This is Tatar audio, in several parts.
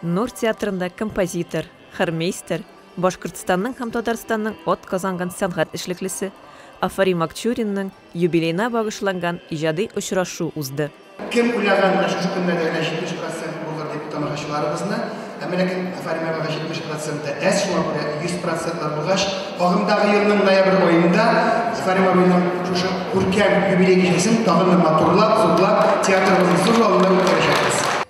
Нур театрында композитор, хормейстер, Башкортстанның һәм Татарстанның от казанган сәнгать эшлеклесе Афари Макчуринның юбилейна багышланган иҗади очрашу узды. Кем уйлаган менә шушы көннәрдә генә 70 процент булыр дип тамашачыларыбызны, әмма ләкин Афари Мәрвага 70 проценты әз, шуңа күрә 100 процентлар булгач, агымдагы елның ноябрь аенда Афари Мәрваның шушы күркәм юбилей кичәсен тагын да матурлап, зурлап, театрыбызның зур залында үткәрәчәкбез.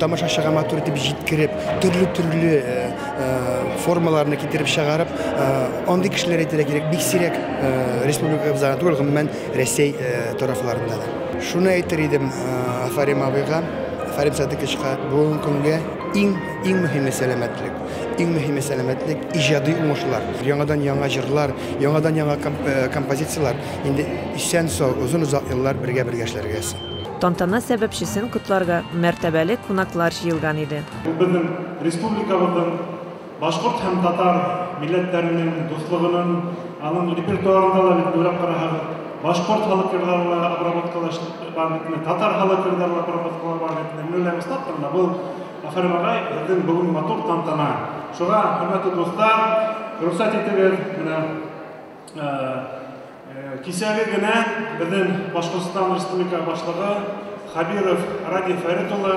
тамашачыга матур итеп җиткереп, төрле-төрле формаларны китереп чыгарып, андый кешеләр әйтергә кирәк, бик сирәк республикабыз гына түгел, гомумән Рәсәй тарафларында да. Шуны әйтер идем Афарим абыйга, Афарим Садыковичка, бүгенге көнгә иң иң мөһиме сәламәтлек. Иң мөһиме сәламәтлек, иҗади уңышлар. Яңадан яңа җырлар, яңадан яңа композицияләр. Инде исән-сау, озын-озак еллар бергә-бергә эшләргә. Тантана сәбәпчесен котларга мәртәбәле кунаклар җыелган иде. Бу безнең республикабызның башкорт һәм татар милләтләренең дуслыгының, аның репертуарында да бит уйлап карасагыз, башкорт халык җырларына обработкалар бар бит инде, татар халык җырларына обработкалар бар бит инде. Менә ләбаса турында бу Афәрин агай, безнең бүген матур тантана. Шуңа, хөрмәтле дуслар, рөхсәт итегез, менә Кисәге генә безнең Башкортстан Республика Башлыгы Хабиров Радий Фәрит улы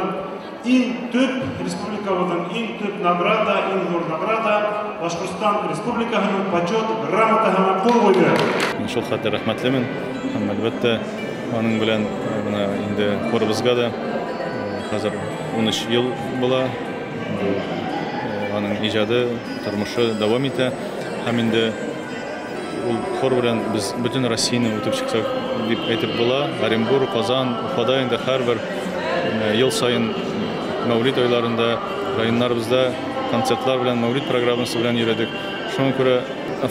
иң төп республикабызның иң төп награда, иң зур награда Башкортстан Республикасының почет грамотаһына кул куйды. Мин шул хәтле рәхмәтлемен һәм әлбәттә аның белән менә инде корыбызга да хәзер 13 ел була. Аның иҗады, тормышы дәвам итә. Һәм инде ул хор белән без бөтен Россияне үтеп чыксак дип әйтеп була. Оренбург, Казан, Уфада инде һәрбер ел саен Мәүлид айларында районнарыбызда концертлар белән, Мәүлид программасы белән йөрәдек. Шуңа күрә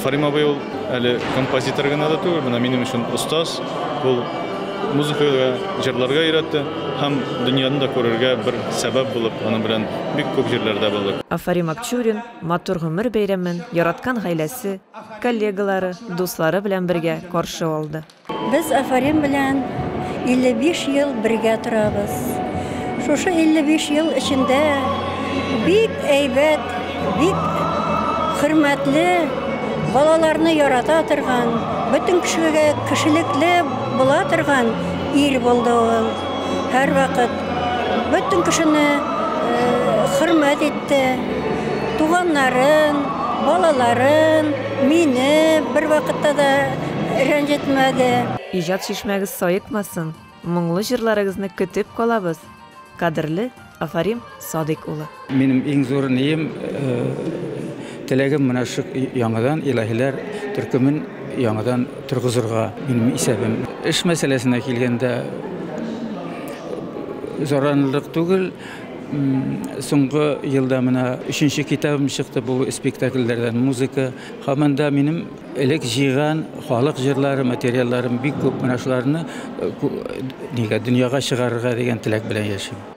Фарим абый ул әле композитор гына да түгел, менә минем өчен остаз. Ул музыкага, җырларга өйрәтте һәм дөньяны да күрергә бер сәбәп булып, аның белән бик күп җирләрдә булдык. Афарим Акчурин, матур гомер бәйрәмен яраткан гаиләсе, коллегалары, дуслары белән бергә каршы алды. Без Афарин белән 55 ел бергә торабыз. Шушы 55 ел эчендә бик әйбәт, бик хөрмәтле, балаларны ярата торган, бөтен кешегә кешелекле була торган ир булды ул. Һәрвакыт Бөтен кешене хөрмәт итте. Туганнарын, балаларын, мине бер вакытта да рәнҗетмәде. Иҗат чишмәгез саекмасын, моңлы җырларыгызны көтеп калабыз! Кадерле Афарим Садыйк улы! Минем иң зур нием, э, теләгем менә шул яңадан илаһиләр төркемен яңадан торгызырга минем исәбем. Эш мәсьәләсенә килгәндә, зарарлык түгел. Соңгы елда менә өченче китабым чыкты бу спектакльләрдән музыка. Һәм анда минем элек җыйган халык җырлары, материалларым бик күп. Менә шуларны э, нигә дөньяга чыгарырга дигән теләк белән яшим.